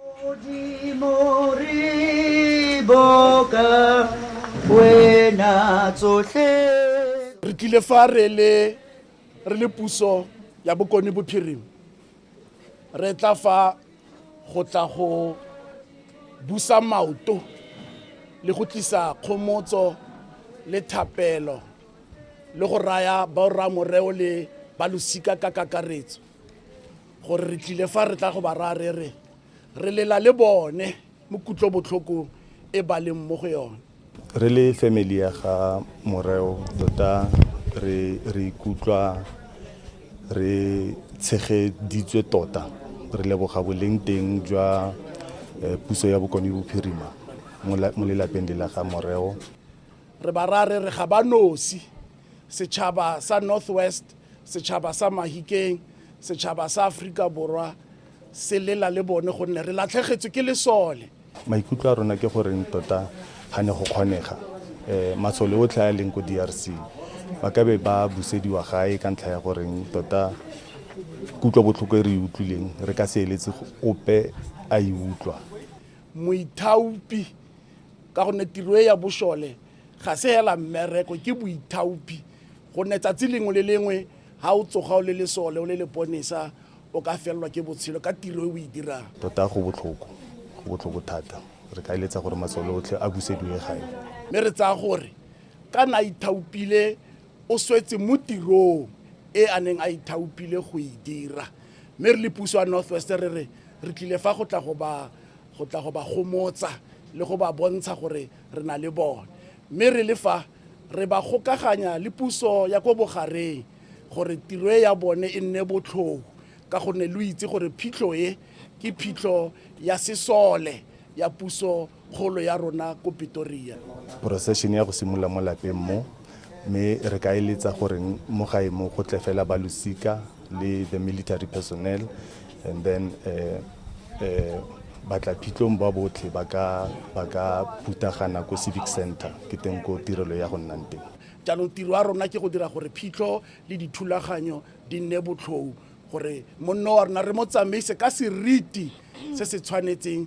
Modimo re boka wena tsotlhe re tlile fa re le re le puso ya bokone bophirima re tla fa go tla go busa maoto le go tlisa kgomotso le thapelo le go raya baoramoreo le balosika ka kakaretso gore re tlile fa re tla go ba raya re re re lela le bone mo kutlobotlhokong e ba leng mo go yone re le family ya ga moreo tota re re ikutlwa re tshegeditswe tota re leboga boleng teng jwa eh, puso ya bokone bophirima mo la- mo lelapeng le la ga moreo re ba raya re re ga ba nosi setšhaba sa northwest setšhaba sa mahikeng setšhaba sa aforika borwa se lela le bone gonne re latlhegetswe ke lesole maikutlo a rona ke goreng tota ga ne go kgonega um masole otlhe a leng ko d r c ba ka be ba busediwa gae ka ntlha ya goreng tota kutlwa botlhoko e re e utlwileng re ka se eletse ope a e utlwa moithaopi ka gonne tiro e ya bošole ga se hela mmereko ke boithaopi gonne tsatsi lengwe le lengwe ga o tsoga o le lesole o le leponesa o ka felelwa ke botshelo ka tiro e o e dirang tota go botlhoko go botlhoko thata re ka eletsa gore masole otlhe a busediwe gae mme re tsaya gore ka na ithaopile o swetse mo tirong e a neng a ithaopile go e dira mme re le puso ya northwest re re re tlile fa go tla go ba go tla go ba gomotsa le go ba bontsha gore re na le bone mme re le fa re ba gokaganya le puso ya ko bogareng gore tiro e ya bone e nne botlhoko ka gonne lo itse gore phitlho e ke phitlho ya sesole ya puso kgolo ya rona ko Pretoria. Procession ya go simolola mo lapeng mo mme re ka eletsa gore mo gae mo go tle fela ba losika le the military personnel and then uh, uh, batla phitlong ba botlhe ba ka ba ka putagana ko civic center ke teng ko tirelo ya go nnang teng jaanong tiro ya rona ke go dira gore phitlho le dithulaganyo di nne botlhou gore monno wa rona re mo tsamaise ka seriti se se tshwanetseng